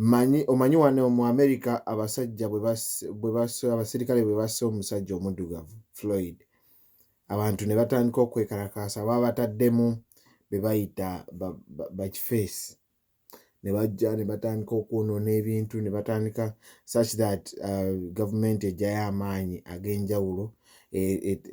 Mmanyi, omanyi, wano mu Amerika abasajja bwe basse, bwe basse, abaserikale bwe basse omusajja omuddugavu, Floyd, abantu ne batandika okwekalakaasa, baabataddemu be bayita bakifeesi, ba, ba ne bajja ne batandika okwonoona ebintu, ne batandika such that uh, gavumenti ejjayo amaanyi ag'enjawulo e,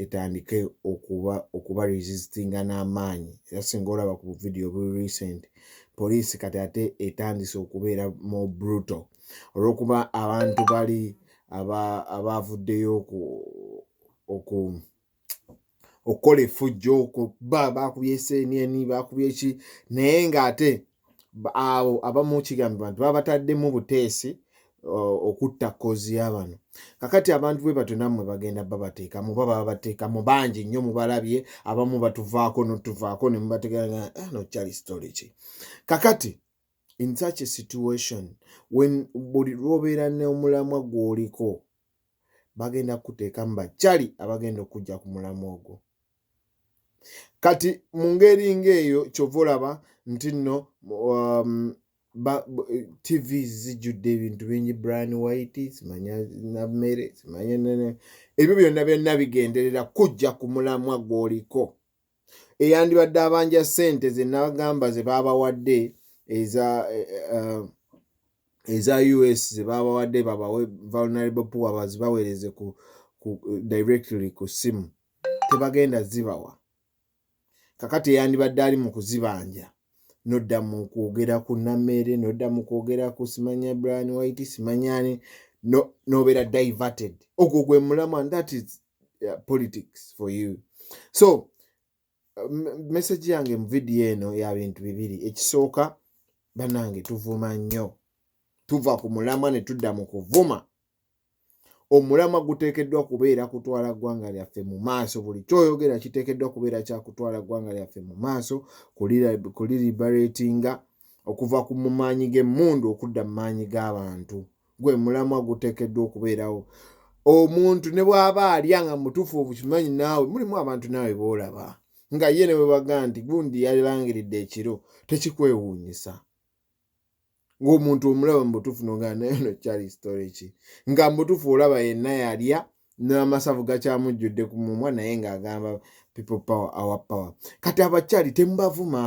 etandike okuba okuba resistinga n'amaanyi era singa olaba ku buvidiyo obuli recent poliisi kati ate etandise okubeera mu brutal olw'okuba abantu bali abaavuddeyo oku okukola efujjo okuba baakubye eseeniani baakubye ki naye ng'ate ba- abo abamu kigambibwa nti babataddemu buteesi o- okutta kozi ya bano kakati abantu bwe batyo nammwe bagenda babateekamu oba baba bateekamu bangi nnyo mubalabye abamu batuvaako notuvaako ne mubategeera nga, "Ah, no kyali story ki kakati in such a situation when buli lwobeera n'omulamwa gw'oliko bagenda kukuteekamu bakyali abagenda okujja ku mulamwa ogwo kati mu ngeri ng'eyo kyova olaba nti nno um, tv zijjudde ebintu bingi brian white simanya namere simanya nene ebyo byonna byonna bigenderera kujja ku mulamwa gwoliko eyandibadde abanja sente zenagamba zebabawadde eza eh, eh, eza us zebabawadde babawe vulnerable poor bazibawereze ku directly ku simu tebagenda zibawa kakati eyandibadde ali mu kuzibanja nodda mu kwogera ku nameere nodda mu kwogera ku simanya brian white simanyani nobeera no diverted ogwo gwe mulamu and that is uh, politics for you so message yange mu vidiyo eno ya bintu bibiri ekisooka banange tuvuma nnyo tuva ku mulamwa ne tudda mu kuvuma omulamwa guteekeddwa kubeera kutwala ggwanga lyaffe mu maaso buli kyoyogera kiteekeddwa kubeera kya kutwala ggwanga lyaffe mu maaso kuliribaratinga okuva ku mu maanyi g'emmundu okudda mu maanyi g'abantu gwe mulamwa guteekeddwa okubeerawo omuntu ne bw'aba alya nga mutuufu obukimanyi naawe mulimu abantu naawe boolaba nga ye ne bwe baga nti gundi yalangiridde ekiro tekikwewuunyisa ng'omuntu omulaba mubutuufu no nga naye no kyali story ki nga mubutuufu olaba yenna yalya n'amasavu gakyamujjudde ku mumwa naye ng'agamba people power our power kati abakyali temubavuma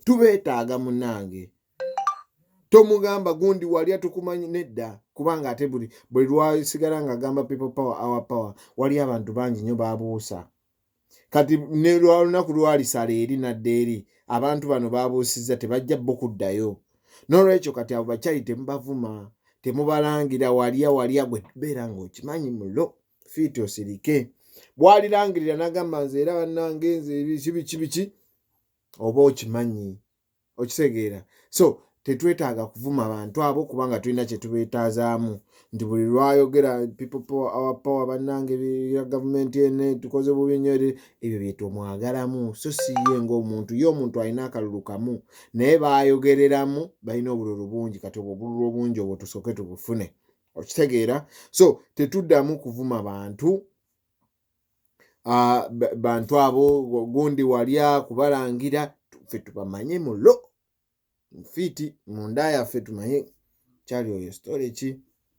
tubeetaaga munange tomugamba gundi walya tukumanyi nedda kubanga ate buli buli lwasigala ng'agamba people power our power waliyo abantu bangi nnyo babuusa kati ne lwalunaku lwalisala eri nadda eri abantu bano babuusizza tebajja bo kuddayo nolwekyo kati abo bakyali temubavuma temubalangira walya walya gwe beera ngaokimanyi mulo fiiti osirike bwalirangirira nagamba nze era banange nze biki biki biki oba okimanyi okitegeera so tetwetaaga kuvuma bantu abo kubanga tulina kyetubeetazaamu nti buli lwayogera ppower bannange ya gavumenti ene tukoze bubi nyo eri ebyo byetomwagalamu so siye ngaomuntu ye omuntu alina akalulu kamu naye bayogereramu balina obululu bungi kati obwo obululu obungi obwo tusooke tubufune okitegeera so tetuddamu kuvuma bantu ah, ba- bantu abo gundi walya kubalangira tu- ffe tubamanyi mu lo fiiti munda yaffe tumanyi kyali oyo story ki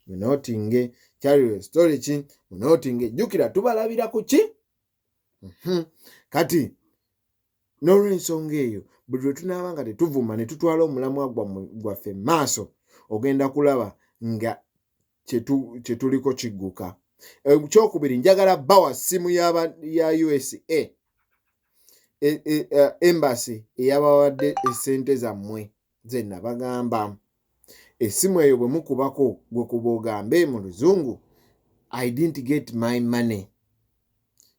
munotinge kyali oyo story ki munotinge jjukira tubalabira ku ki Mhm. kati n'olwensonga eyo buli lwe tunaaba nga tetuvuma ne tutwala omulamwa gwammwe- gwaffe mu maaso ogenda kulaba nga kyetu- kye tuliko kigguka Eh, kyokubiri njagala bawa ssimu yaba- ya usa e- e- eh, embassy eyabawadde esente zammwe zenna bagamba essimu eyo bwe mukubako gwe kuba ogambe mu luzungu i didn't get my money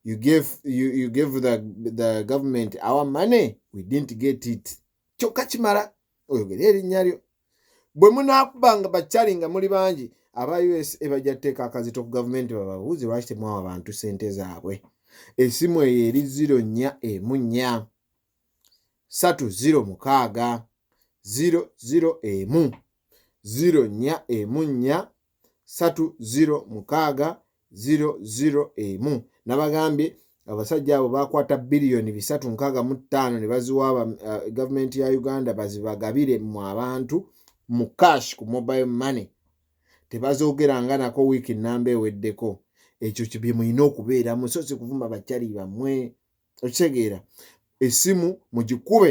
you gave, you, you gave the, the government our money we didn't get it kyokka kimala oyogere erinnya lyo bwe munaakuba nga bakyali nga muli bangi aba usa bajja tuteeka akazito ku gavumenti bababuuzi lwaki temwawa bantu sente zaabwe esimu eyo eri ziro nnya emu nnya satu ziro mukaaga ziro ziro emu ziro nnya emu nnya satu ziro mukaaga ziro ziro emu nabagambye abasajja abo bakwata biliyoni bisatu nkaaga mu ttaano ne baziwa uh, gavumenti ya uganda bazibagabire mu abantu mu cash ku mobile money tebazoogeranga nako wiiki namba eweddeko ekyo kibye mulina okubeera musozi kuvuma bakyali bamwe okitegeera esimu mugikube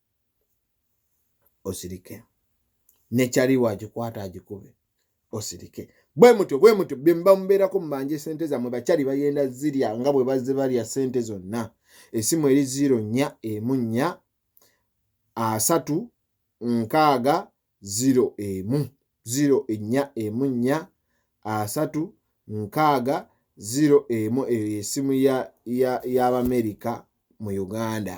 osirike nekyali wagikwata agikube osirike bwe mutyo bwe mutyo bemba mubeerako mubanje sente zamwe bakyali bagenda zirya nga bwe bazze balya sente zonna esimu eri ziro nnya emu nnya asatu nkaaga ziro emu ziro ennya emu nnya asatu nkaaga ziro emu eyo yesimu y'abamerika mu uganda